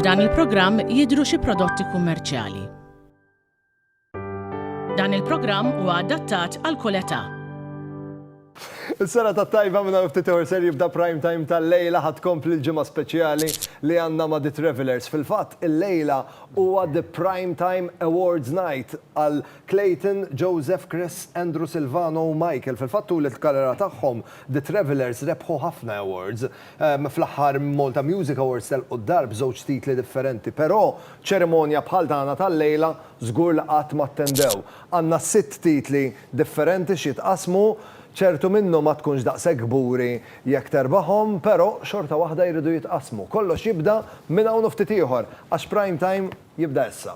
F'dan il-programm jidhru xi prodotti kummerċjali. Dan il-programm huwa adattat għal kull età. Is-sena tat-tajba minn ftit ieħor ser jibda prime time tal-lejla ħadd kompli l-ġimgħa speċjali li għandna ma' The Travellers. Fil-fatt, il-lejla huwa The Prime Time Awards Night għal Clayton, Joseph, Chris, Andrew, Silvano u Michael fil-fatt tul il-karriera tagħhom The Travellers rebħu ħafna awards. Fl-aħħar Malta Music Awards telqu d-dar b'żewġ titli differenti però ċerimonja bħal tagħna tal-lejla żgur li qatt ma ttendew. Għandna sitt titli differenti x'jitqassmu, ċertu minnhom ma tkunx daqshekk kburi jekk terbahom però xorta waħda jridu jitqassmu. Kollox jibda minn hawn u ftit ieħor għax Prime Time jibda issa.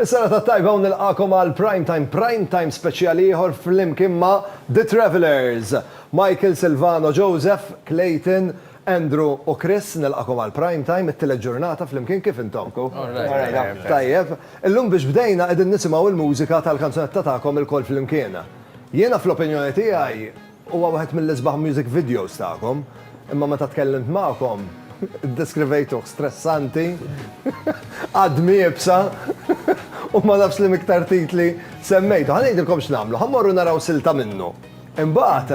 Is-sena ta' tajba u nilqakom għal Prime Time, Prime Time speċjali ieħor flimkien ma' The Travellers. Michael, Silvano, Joseph, Clayton, Andrew u Chris nilqakom għal Prime Time, it-tielet ġurnata flimkien kif intom? Tajjeb. Illum biex bdejna qegħdin nisimgħu l-mużika tal-kanzunetta tagħkom ilkoll flimkien. Jiena fl-opinjoni tiegħi huwa wieħed mill-isbaħ music videos tagħkom, imma meta tkellimt magħkom iddeskrivejtuh stressanti, għadm iebsa u ma nafx liemiktar titli semmejtu. Ħa ngħidilkom x'nagħmlu, ħa mmorru naraw silta minnu. Imbagħad,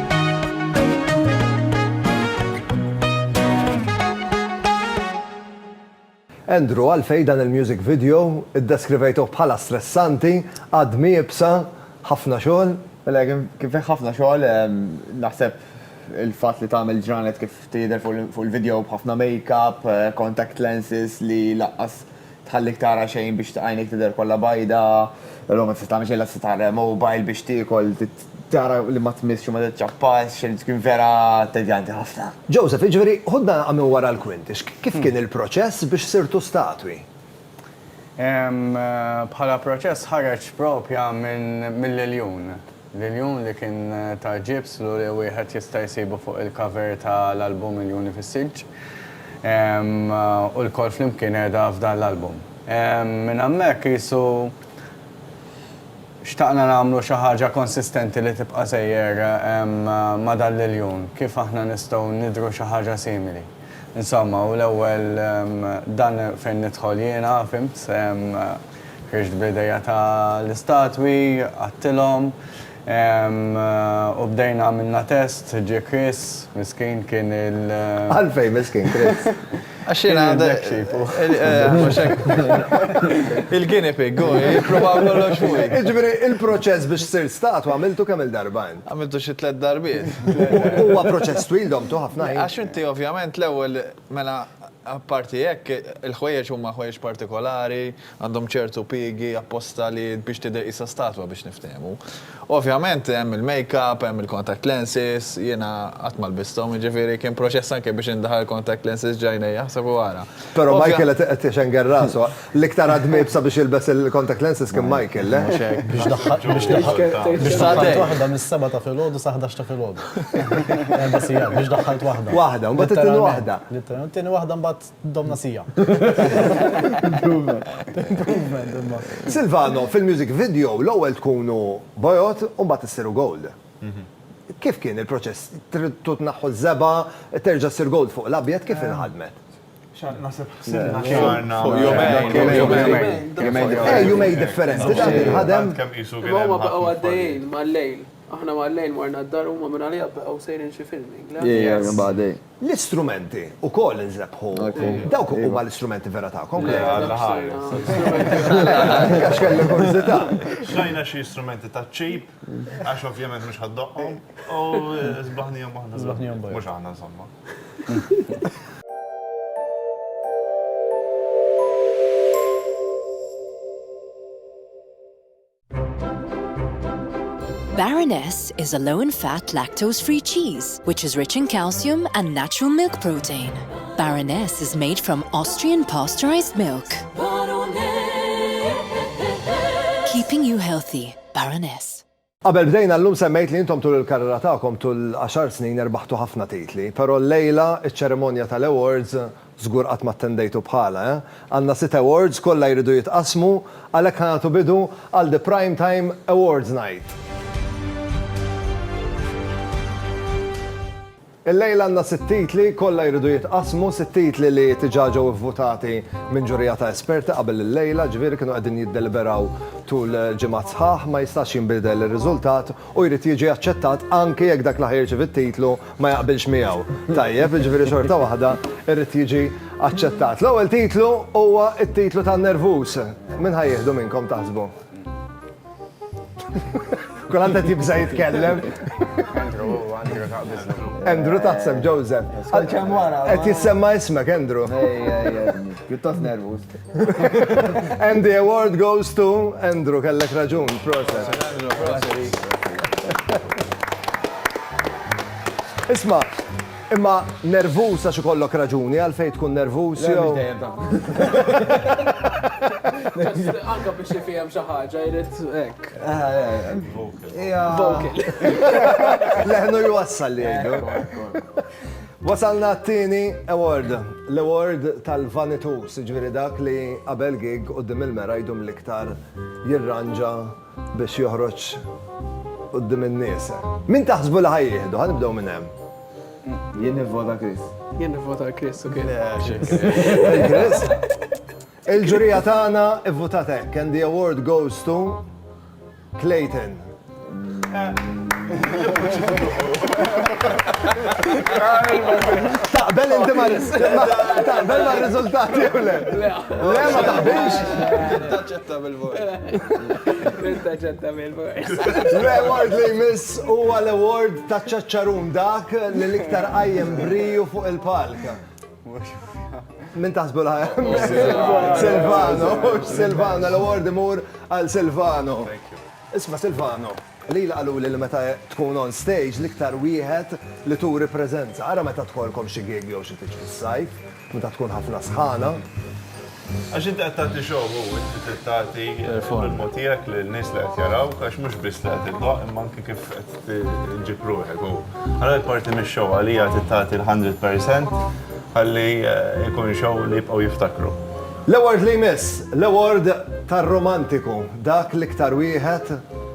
Andrew, għalfejn dan il-music video iddeskrivejtuh bħala stressanti, għadm iebsa, ħafna xogħol? Mela, kien fih ħafna xogħol, naħseb il-fatt li tagħmel ġranet kif tidher fuq il-video b'ħafna make-up, contact lenses li lanqas tħallik tara xejn biex għajnejk tidher kollha bajda, l-logħba tista' tagħmel xejn, lanqas tista' tara mobile biex tiekol, tara li ma tmissx u ma tiċċappax, irid tkun vera tedjanti ħafna. Joseph, jiġifieri, ħudna naqgħa minn wara l-kwinti, kif kien il-proċess biex sirtu statwi? Bħala proċess ħareġ proprja mill-iljun. L-iljun li kien ta' ġibs lu li wieħed jista' jsibu fuq il-cover ta' l-album Iljuni fis-Silġ. U lkoll flimkien qiegħda f'dan l-album. Minn hemmhekk qisu. Xtaqna nagħmlu xi ħaġa konsistenti li tibqa' sejjer ma' dan l-iljun. Kif aħna nistgħu nidhru xi ħaġa simili? Insomma, u l-ewwel dan fejn nidħol jiena, fhimt? Ħriġt bl-idejja ta' l-istatwi, qgħadtilhom, u bdejna għamilna test, ġie Chris, miskin, kien il. Għalfejn miskin, Chris? Għax jiena Black sheep. Il-guinea pig, hu, jipprova kollox fuqi. Jiġifieri il-proċess biex sirt statwa għamiltu kemm-il darba int? Għamiltu xi tliet darbiet. Huwa proċess twil domtu ħafna ħin. Għax inti ovvjament l-ewwel, mela apparti hekk, il-ħwejjeġ huma ħwejjeġ partikolari, Għandhom ċertu piegi apposta li biex tidher qisha statwa biex niftehmu. Ovvjament hemm il-makeup, hemm il-contact lenses, jiena qatt ma lbisthom, jiġifieri kien proċess anke biex indaħal il-contact lenses ġ'għajnejja, ħseb u ara. Però Michael qed ixengel rasu. L-iktar ħadd mejjeb sabiex jilbes il-contact lenses kien Michael, le? Mhux hekk. Biex daħħalt, biex daħħalt. Biex daħħalt waħda mis-sebgħa ta' filgħodu sa ħdax ta' filgħodu. Erba' sigħat, biex daħħalt waħda. Waħda, u mbagħad it-tieni waħda. It-tieni waħda mbagħad. Domna sija. Silvano, fil-music video l-ewwel tkunu bojod u mbagħad issiru gold. Kif kien il-proċess? Tridtu tneħħu ż-żebgħa, terġa' ssir gold fuq l-abjad, kif inħadmet? Naħseb ħsibna xahar fuq jumejn. Jumejn differenti dan inħadem. Huma baqgħu għaddejjin mal-lejl. Aħna mal-lejl morna d-dar huma minn għaliha baqgħu sejrin xi filming. L-istrumenti wkoll nżebbħu. Dawk huma l-istrumenti vera tagħkom. Le, Alla ħares. Għax kelli kurżità. Xtrajna xi strumenti taċ-ċip, għax ovvjament mhux ħa ddoqqhom, u sbaħnihom aħna. Sbaħnihom bajda. Mhux aħna, insomma. Baroness is a low in fat lactose free cheese which is rich in calcium and natural milk protein. Baroness is made from Austrian pasteurized milk. Keeping you healthy, Baroness. Qabel bdejna llum semmejt li intom tul il-karriera tagħkom tul għaxar snin erbaħtu ħafna titli, però llejla ċ-ċerimonja tal-awards Żgur qatt ma attendejtu bħalha, eh? Għandna sitt awards, kollha jridu jitqassmu, għalhekk ħa nagħtu bidu għal The Prime Time Awards Night. Illejla għandna sitt titli, kollha jridu jitqassmu, sitt titli li diġà ġew ivvutati minn ġurija ta' esperti qabel illejla, jiġifieri kienu qegħdin jiddeliberaw tul ġimgħat sħaħ, ma jistax jinbidel ir-riżultat u jrid jiġi aċċettat anki jekk dak li ħa jirċievi t-titlu ma jaqbilx miegħu, tajjeb, jiġifieri xorta waħda jrid jiġi aċċettat. L-ewwel titlu huwa t-titlu tan-nervuż. Min ħa jieħdu minnkom taħsbu? Kulħadd qed jibża' jitkellem. Andrew taħseb Joseph. Għal kemm wara. Qed jissemma ismek Andrew. Pjuttost nervuż. And the award goes to Andrew, kellek raġun, proset. Isma, imma nervus għax ikollok raġuni għalfejn tkun nervus jew. Anka biex jifihem xi ħaġa jrid hekk. Vocal. Leħnu jwassal li jgħidu. Wasalna t-tieni award, l-award tal-vanitu, siġviri dak li qabel gig u dim il-mera jdum l-iktar jirranġa biex joħroċ u dim il-nies. Min taħsbu li ħaj jihdu, ħan nibdew minn hemm. Jien nivvota Chris. Jien nivvota Chris, ok. Chris? Il-ġurija tagħna ivvutat hekk and the award goes to Clayton. Taqbel inti ma taqbel ma riżultati u le. Le ma taqbilx. Taċċetta bil-vot. Taċċetta bil-vot. L-award li jmiss huwa l-award ta' ċaċċarun dak li l-iktar qajjem briju fuq il-palk. Min taħsbu la Silvano, Silvano, l-award imur għal Silvano. Isma Silvano, li laqalu li meta tkun on stage liktar wieħed li turi prezenza. Ara meta tkolkom xi gig jew xi tiġ fis-sajf, meta tkun ħafna sħana. Għax inti qed tagħti show u inti trid tagħti l-ilmu tiegħek lin-nies li qed jarawk għax mhux biss li qed iddoqq imma anke kif qed iġġib ruħek u allura parti mix-show għalija trid tagħti l-hundred percent ħalli jkun show li jibqgħu jiftakru. L-award li jmiss, l-award tar-romantiku, dak l-iktar wieħed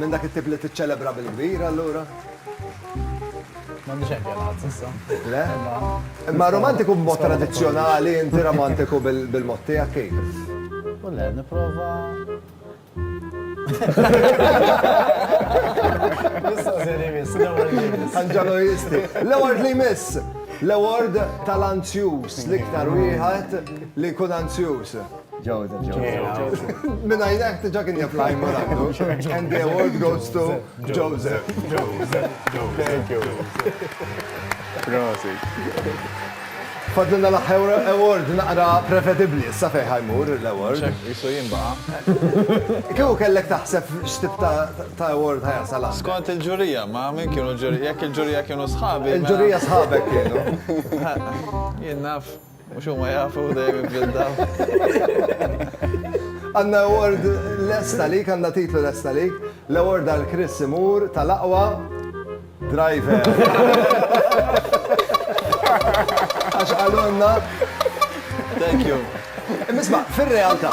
Minn dak it-tip li tiċċelebra bil-kbir allura? M'għandi xejn pjanat s'issa. Le? Imma romantiku b'mod tradizzjonali, inti romantiku bil-mod tiegħek kif? U le, nipprova. Issa se li miss, l-ewwel li miss. Anġalojisti. L-ewwel li miss. L-ewwel tal-anzjus, l-iktar wieħed li jkun anzjus. Ġewza, ġewza. Minna jnek tiġa kien jaf lajn ma għandu. And the award goes to Joseph. Joseph, Joseph. Thank you. Prosit. Fadlina l-ħewra award naqra prevedibli, sa fej ħajmur l-award. Isu jimba. Kew kellek taħseb x'tib ta' award ħajasala? Skont il-ġurija, ma minn kienu ġurija, jekk il-ġurija kienu sħabi. Il-ġurija sħabek kienu. Jien naf. Mhux huma jafu dejjem imblindaw. Għandna award lesta lik, għandna titlu lesta lik. L-award għal Chris imur tal-aqwa driver. Għax qalulna. Thank you. Imma isma', fir-realtà.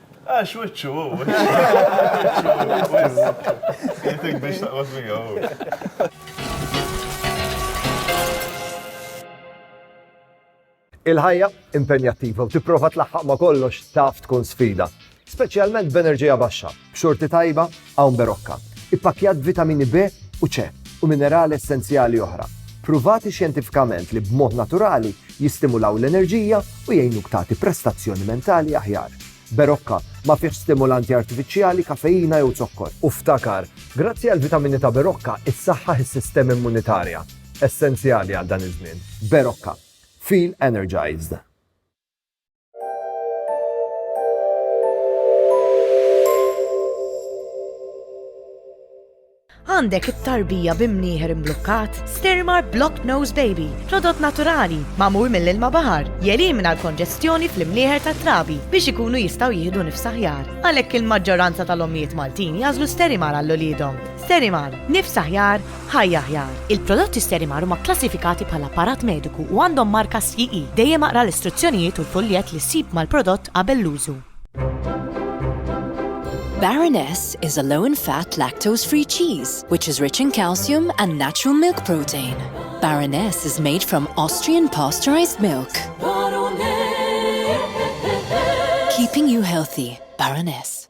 Għax wiċċu hu. Jgħidlek biex taqgħod miegħu. Il-ħajja impenjattiva u tipprova tlaħħaq ma' kollox taf tkun sfida, speċjalment b'enerġija baxxa, b'xorti tajba Hawn Berocca, ippakkjat b'vitamini B u C u minerali essenzjali oħra, pruvati xjentifikament li b'mod naturali jistimulaw l-enerġija u jgħinuk tagħti prestazzjoni mentali aħjar. Berocca ma fihx stimulanti artifiċjali, kafeina jew zokkor. U ftakar, grazzi għall-vitamini ta' Berocca issaħħaħ is-sistema immunitarja, essenzjali għal dan iż-żmien. Berocca. Feel energized. Għandek it-tarbija bi mnieħer imblukkat? Stirmar Block Nose Baby, prodott naturali, magħmul mill-ilma baħar, jelimina l-konġestjoni fl-imnieħer tat-trabi biex ikunu jistgħu jieħdu nifsaħjar. Għalhekk il-maġġoranza tal-ommijiet Maltin jażlu Sterimar għall-uliedhom. Sterimar, nifsaħjar Ħajja Aħjar, Il-prodotti Sterimar huma kklassifikati bħala apparat mediku u għandhom marka CE. Dejjem aqra l-istruzzjonijiet u l-fuljett li ssib mal-prodott qabel l-użu. Baroness is a low in fat lactose free cheese which is rich in calcium and natural milk protein. Baroness is made from Austrian pasteurized milk. Keeping you healthy, Baroness.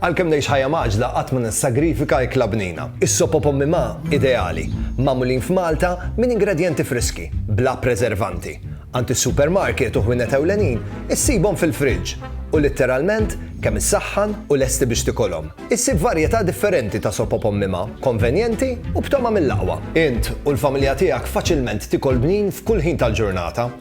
Għalkemm ngħix ħajja mgħaġġla qatt ma nissagrifika ikla bnina. Is-sop o pommi ma, ideali. Magħmulin f'Malta minn ingredjenti friski, bla preservanti. Għand is-supermarket u ħwienet ewlenin issibhom fil-fridge u litteralment kemm issaħħan u lesti biex tikolhom. Issib varjetà differenti ta' sop o pommi ma, konvenjenti u b'togħma mill-aqwa. Int u l-familja tiegħek faċilment tikol bnin f'kull ħin tal-ġurnata.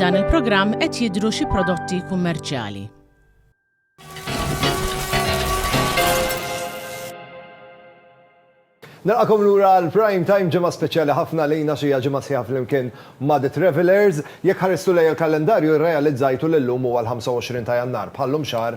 F'dan il-programm qed jidhru xi prodotti kummerċjali. Nilqakom lura l-Prime Time ġimgħa speċjali ħafna lejna xi ġimgħa sħiħa flimkien ma' The Travelers. Jekk ħaristu lejn il-kalendarju rrealizzajtu li llum huwa l-25 ta' Jannar, bħallum xahar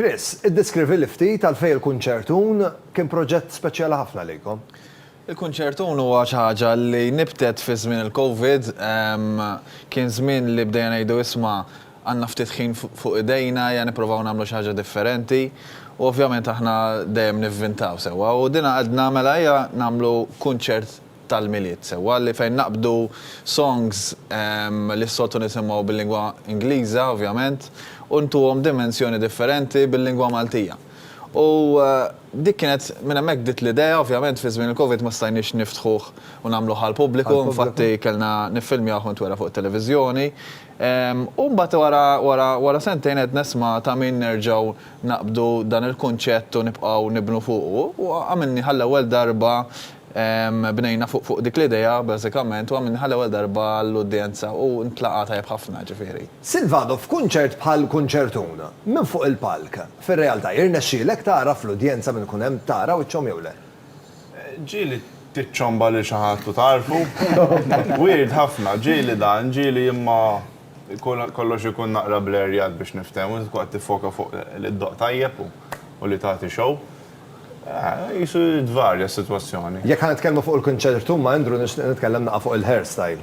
Chris, iddeskrivili ftit għalfejn il-kunċertun kien proġett speċjali ħafna lejkom. Il-kunċertun huwa xi ħaġa li nibtet fi żmien il-COVID, kien żmien li bdejna ngħidu isma' Għandna ftit ħin fuq idejna, ejja nipprovaw nagħmlu xi ħaġa differenti. U ovvjament aħna dejjem nivvintaw, sewwa? U dina għedna, mela ejja nagħmlu kunċert tal-Milied, sewwa? Li fejn naqbdu songs li s-soltu nisimgħu bil-lingwa Ingliża, ovvjament, u ntuhom dimensjoni differenti bil-lingwa Maltija. U dik kienet, minn hemmhekk bdiet l-idea, ovvjament fi żmien il-Covid ma stajniex niftħuh u nagħmluh għall-pubbliku, infatti kellna niffilmjawh u ntwera' fuq it-televiżjoni. U mbagħad wara wara sentejn qed nisma' ta' min nerġgħu naqbdu dan il-kunċett u nibqgħu nibnu fuqu. U għamilni għall-ewwel darba bnejna fuq fuq dik l-idea bażikament u għamilni għall-ewwel darba għall-udjenza u ntlaqa' tajjeb ħafna ġifieri. Silvano, f'kunċert bħal Kunċertun, minn fuq il-palk, fir-realtà jirnexxielek tagħraf l-udjenza min ikun hemm, tara wiċċhom jew le? Ġieli tiċċomba lil xi ħadd u tgħarrfu. Weird ħafna, ġieli dan, ġieli imma kollox ikun naqra blerjat biex niftehmu, int tkun qed tiffoka fuq li ddoqq tajjeb u li tagħti show. Qisu li tvarja s-sitwazzjoni. Jekk ħa nitkellmu fuq il-kunċertu ma' Andrew nixtieq nitkellem naqgħa fuq il-hairstyle.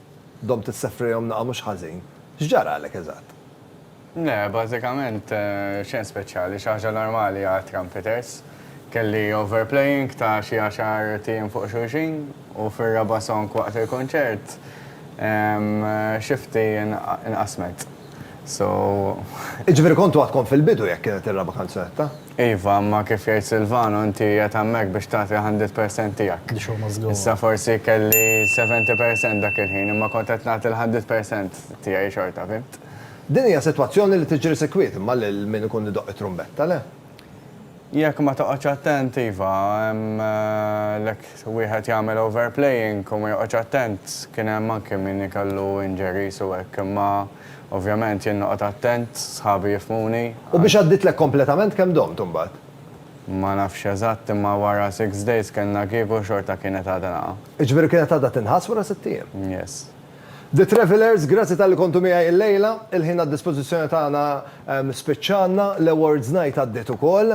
Domt issefrejhom naqa' mhux ħażin. X'ġaralek eżatt? Le, bażikament xejn speċjali, xi ħaġa normali għal trumpeters. Kelli overplaying ta' xi għaxar tim fuq xulxin u fir-raba' song waqt il-kunċert xifti nqasmet. So. Jiġifieri kontu għadkom fil-bidu jekk kienet ir-raba' kanzunetta? Iva, imma kif jgħid Silvano, inti qiegħed hemmhekk biex tagħti l-hundred percent tiegħek. The show must go on. Issa forsi kelli seventy percent dak il-ħin, imma kont qed nagħti l-hundred percent tiegħi xorta, fhimt? Din hija sitwazzjoni li tiġri sikwit, imma lil min ikun idoqq it-trumbetta, le? Jekk ma toqgħodx attent, iva, hemm l-hekk wieħed jagħmel overplaying u ma joqgħodx attent. Kien hemm anki min ikellu injuries u hekk, imma. Ovvjament jien noqgħod attent, sħabi jifhmuni. U biex għadditlek kompletament kemm domt imbagħad? Ma nafx eżatt imma wara six days kellna gig u xorta kienet għadha naqa'. Jiġifieri kienet għadha tinħass wara sitt ijiem? Yes. The Travellers, grazzi talli kontu miegħi illejla. Il-ħin għad-dispożizzjoni tagħna spiċċa għandna, l-awards night għaddiet ukoll.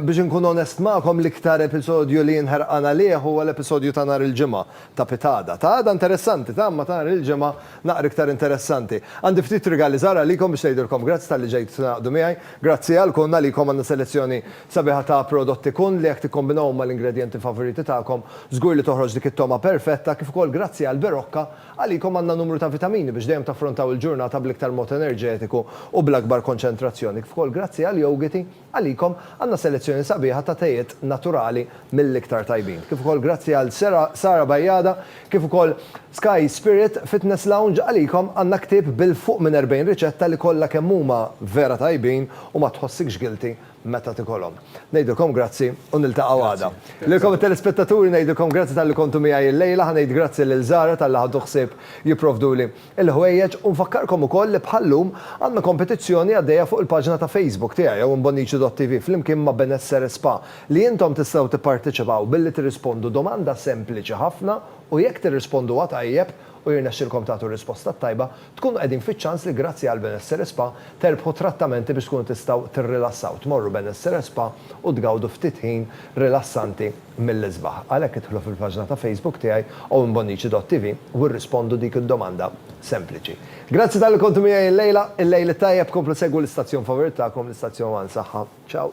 Biex inkun onest magħkom l-iktar episodju li jien ħerqan għalih huwa l-episodju ta' nhar il-Ġimgħa. Ta' pitada. Ta' għada interessanti, ta' imma ta' nhar il-Ġimgħa naqra iktar interessanti. Għandi ftit rigali żgħar għalikom biex ngħidilkom grazzi talli ġejtu tingħaqdu miegħi. Grazzi għal Kun, għalikom għandna selezzjoni sabiħa ta' prodotti Kun li jekk tikkombinawhom mal-ingredjenti favoriti tagħkom, żgur li toħroġ dik it-togħma perfetta, kif ukoll grazzi għal Berocca, għalikom għandna numru ta' vitamini biex dejjem taffrontaw il-ġurnata bl-iktar mod enerġetiku u bl-akbar konċentrazzjoni, kif ukoll grazzi għal Yougiti, Għalikom għandna selezzjoni sabiħa ta' tejiet naturali mill-iktar tajbin. Kif ukoll grazzi għal Sara Bajada kif ukoll Sky Spirit Fitness Lounge għalikom għandna ktieb bil-fuq minn 40 riċetta li kollha kemm huma vera tajbin u ma tħossikx guilty meta tikolhom. Ngħidilkom grazzi u niltaqgħu għada. Lilkom it-telespettaturi ngħidilkom grazzi talli kontu miegħi llejla. Ħa ngħid grazzi lil Zara talli ħadu ħsieb jipprovduli il-ħwejjeġ u nfakkarkom ukoll li bħal-lum għandna kompetizzjoni għaddejja fuq il-paġna ta' Facebook tiegħi hawn Bonnici.TV flimkien ma' Benessere Spa li intom tistgħu tipparteċipaw billi tirrispondu domanda sempliċi ħafna u jekk tirrisponduha tajjeb u jirnexxilkom tagħtu r-risposta t-tajba tkunu qegħdin fiċ-ċans li grazzi għal Benessere Spa terbħu trattamenti biex tkunu tistgħu tirrilassaw tmorru Benessere Spa u tgawdu ftit ħin rilassanti mill-isbaħ. Għalhekk idħlu fil-paġna ta' Facebook tiegħi owenbonnici.tv u irrispondu dik id-domanda sempliċi. Grazzi talli kontu miegħi illejla. Il-lejl it-tajjeb, komplu segwu l-istazzjon favorit tagħkom, l-istazzjon One Saħħa. Ciao.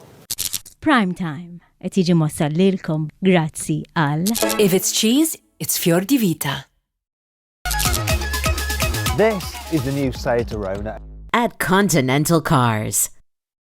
Prime Time qed jiġi mwassal lilkom grazzi għal. If it's cheese, it's Fior di Vita. This is the new Seat Arona. At Continental Cars.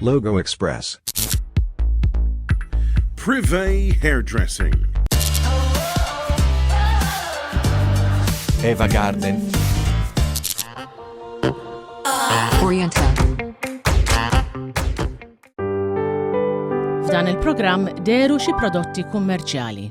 Logo Express. Privé Hairdressing. Eva Garden. Oriental. F'dan il-programm deru xi prodotti kummerċjali.